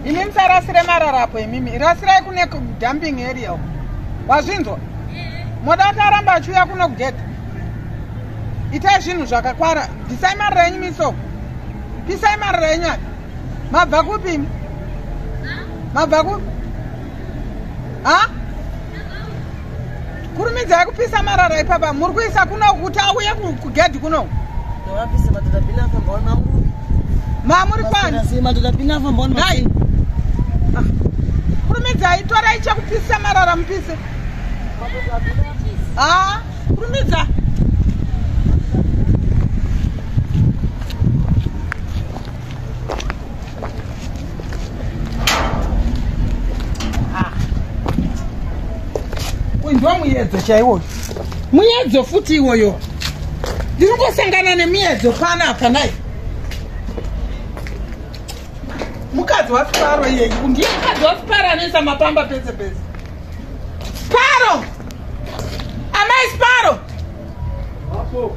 imi musarasire marara apo imimi rasirai kune dumping area uko wazvinzwa moda kuti aramba achiuya kuno kugeta itai zvinhu zvakakwara bvisai mari renyu misoko pisai mari renyu ati mabva kupi imi mabva kupi ha kurumidzai kupisa marara ipapa muri kuisa kuno kuti auye kugedhi kuno mamuri kwanidai ah. kurumidzai torai chekupisa marara mupise a ah, kurumidza kunzwa muyedzo chaiwoyo muyedzo futi iwoyo ndiri kungosangana nemuyedzo pana apa nai mukadzi wasiparo iyeyi ndiye mukadzi wasiparo anoisa mapamba pese pese sparo amai sparo Apo.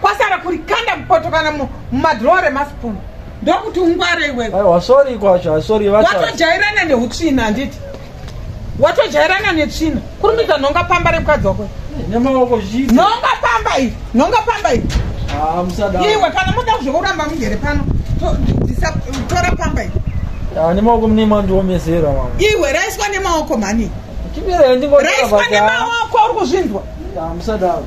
kwasara kuri kanda mupoto kana mumadhrowa remaspoon ndokuti ungware iwewe aiwa sorry kwacho asori watojairana neutsvina handiti watojairana netsvina kurumidza nhonga pamba remukadzi wako nemaoko zii nhonga pamba iyi nhonga pamba iyi ah, iwe kana moda kuzvokuramba mugere pano tora pamba iyi ah, nemaoko mune mandiomesera iwe raiswa nemaoko mhani raiswa nemaoko uri kuzvinzwa ah, musadaro